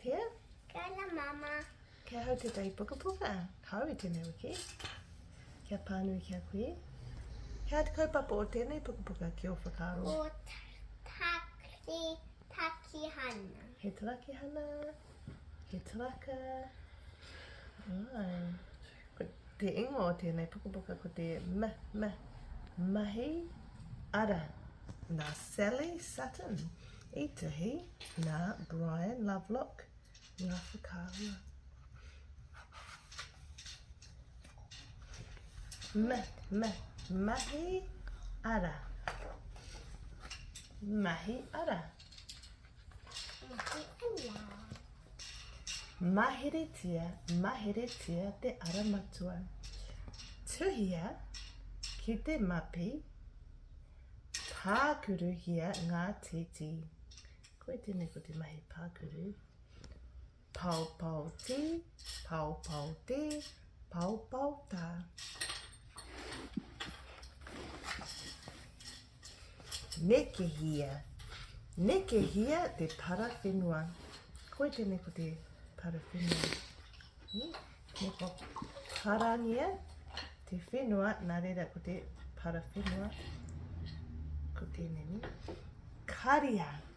Pia? Kia ora mama. Kia hau te tai pukapuka. Kau i tenei wiki. Kia pānui ki a kui. He aha te kaupapa o tenei pukapuka ki o whakaaro? Ko te takihana. He takihana. He taraka. Right. Ko te ingoa o tēnei pukapuka ko te ma, ma, mahi ara. Nā Sally Sutton i tuhi, nā Brian Lovelock ngā whakaahua. Ma, ma, mahi ara. Mahi ara. Maheretia, maheretia te ara matua. Tuhia ki te mapi, pākuruhia ngā titi. Koe tēnei ko te mahi pākuru. Paopao te, paopao te, paopao ta. Nekehia, nekehia te parawhenua. Koi tēnei ko te parawhenua. Ni, ne pa parangia te whenua, nā reira ko te parawhenua. Ko tēnei ni. Karia. Karia.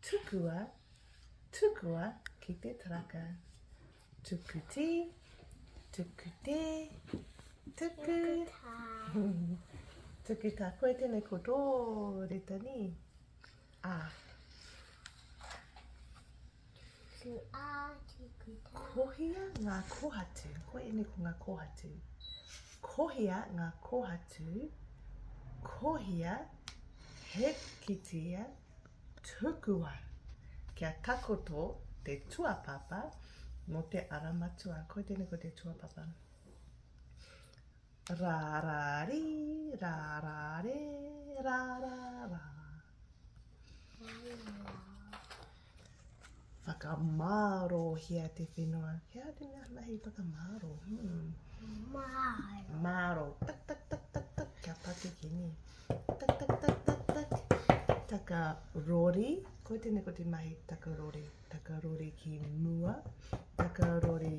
Tukua, tukua ki te taraka. Tuku tī, tuku tē, tuku. Tuku tā koe tēnei ko tō reta nī. Ā. Tu ā, tuku tā. Kohia ngā kohatu. Koe ēnei ko ngā kohatu. Kohia ngā kohatu. Kohia he kitea. Tukua kia takoto te tuapapa mo te ara matua. Koi tenei ko te tuapapa. Ra ra ri, ra ra re, ra ra ra. Whakamārohia te whenua. He aha te mea hanahi whakamāro? Hmm. Māro. Māro. Tak, tak, tak, tak, tak. Kia patu ki ni. Tak, tak, tak, tak, tak. Taka rori. Ko tēnei ko te mahi taka rori. Taka rori ki mua. Taka rori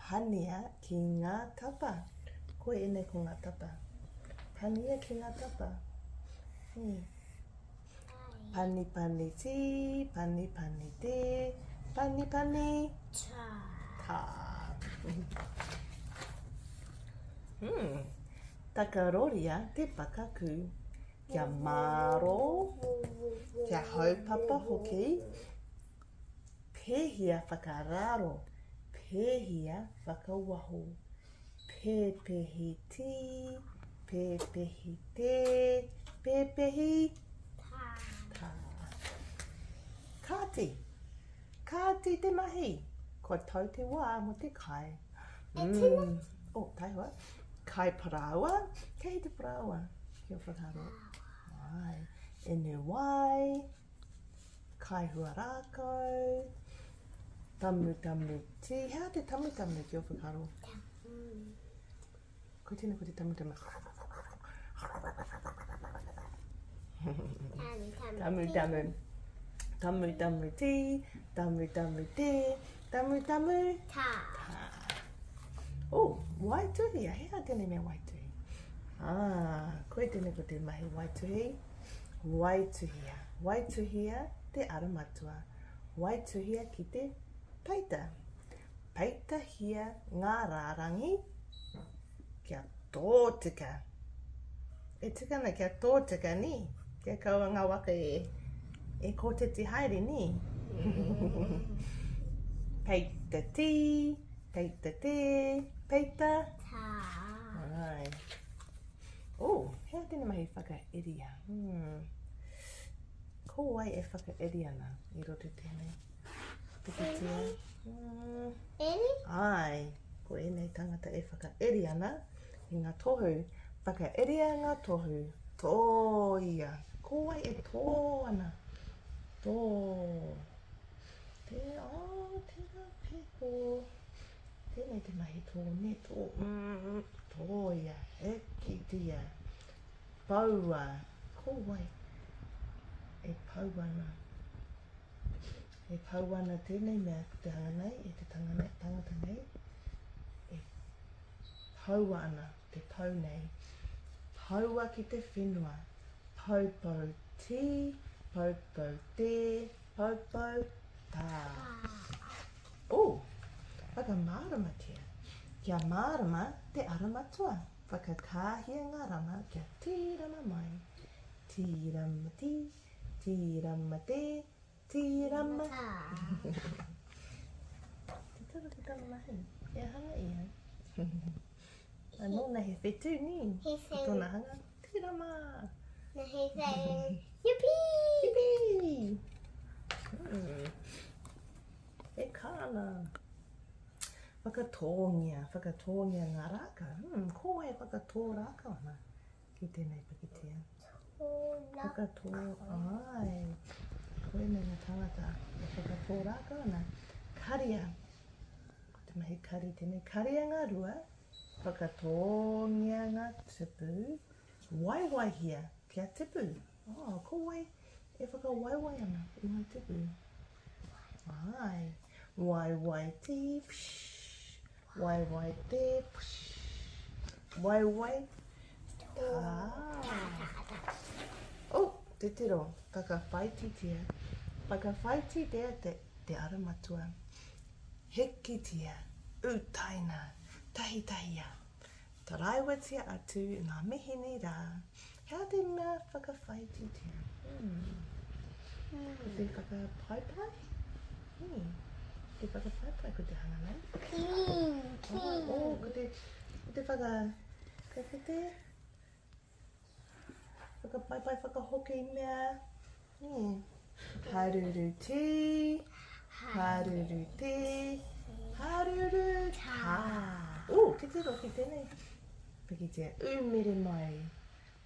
Pania ki nga tapa. Koe enei ko nga tapa. Pania ki nga tapa. Hei. Pani pani ti, pani pani te, pani pani ta. Ta. Hmm. Takaroria te pakaku. Kia maro, kia haupapa hoki. Pēhia whakaararo, pēhia whakawaho, pēpehi tī, pēpehi tē, pēpehi tā. Kāti, kāti te mahi, kua tau te wā mō te kai. Mm. Oh, taihoa. Kai parāoa, kei te parāoa, kia whakaaro. Ai, inu wai. Kaihua rākau, tamutamu tī. He aha te tamutamu ki ō whakaaro? Ko tēnei ko te tamutamu. Tamutamu. Tamutamu tī, tamutamu tē, tamutamu tā. Oh, waituhi, he aha tēnei mea waituhi? Ah, koe tēnei ko te mahi waituhi. Waituhia, waituhia te ara matua, waituhia ki te peita. Peitahia ngā rārangi kia tōtika. E tika ana kia tōtika, ni? Kia kaua ngā waka e, e kōtiti haere, ni? peita tī, peita tē, peita... Tā. Ai. Oh, he a tēnei mahi whakairia. Hmm. Ko wai e whakairi ana i roto tēnei? Pikitia. Hmm. Eri? Ai, ko ēnei tangata e whakairi ana i ngā tohu. Whakairia ngā tohu. Tō ia. Ko wai e tō ana? Tō. Te, oh, tērā pēko. Tēnei te mahi tōneto, tōia, hikitia, poua, ko wai e pau ana. E pau ana tēnei mea ki te hanga nei, e te tanga nei, tangata nei, e poua ana te pau nei. Poua ki te whenua, poupou tī, poupou tē, Poupou, ā. Ū! Whakamāramatia, Kia mārama te ara matua. Whakakāhia ngā rama kia tīrama mai. Tīramatī, tīramatē, tīrama. Te toro te tama mahi, kia hanga ia. Nōna he whetū nī, ko tōna hanga. Tera ma. Nahi whai. Yipi! Yipi! Mm. E kāna. Whakatōngia, whakatōngia ngā rāka. Mm, ko e whakatō rāka ana ki tēnei pakitia. Whakatō, ai. Ko e mena tangata e whakatō rāka ana. Karia. Ko te mahi kari tēnei. Karia ngā rua. Karia. Whakatōngia ngā tupu, waiwaihia kia tipu. Oh, ko wai e whakawaiwai ana i ngā tupu? Ai, waiwai tī, pshh, waiwai te, pshh, waiwai tā. Oh, te tiro, whakawhaititia, whakawhaititia te ara matua. Heketia, utaina, tahitahia, taraiwatia atu i ngā mihi nei rā, he aha te mea whakawhaititia? Ko te whakapaipai? Ko te whakapaipai ko te hanga nei? Ko te whaka... Ko te... Whakapaipai whakahoki mea. Hmm. Haruru tī, haruru tī, haruru tā. Ū, ki te roki tēnei. Pikitia, ū mere mai.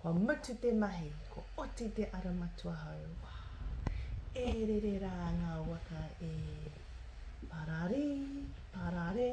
Kua mutu te mahi, ko oti te ara matua hau. E rere rā ngā waka e. Pararī, pararē,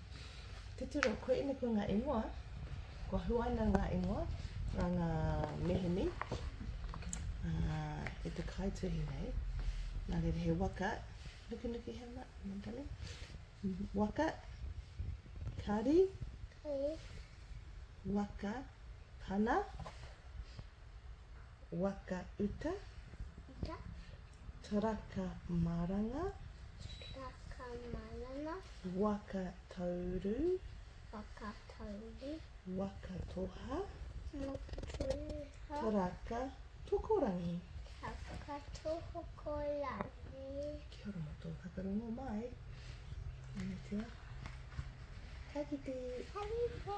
Titiro, Koe ina koe ngā ingoa, kua huaina ngā ingoa nā ngā meheni e te kaituhi nei. Nā reira he waka, nukinuki he ma, mantane, waka, kari, kari, waka, pana, waka uta, uta, Karaka maranga. Karaka maranga. Waka tauru. Waka tauru. Waka toha. Waka toha. Karaka tokorangi. Karaka tokorangi. Kia ora mo tō whakarongo mai. Angitia. Ka kite. Ka kite.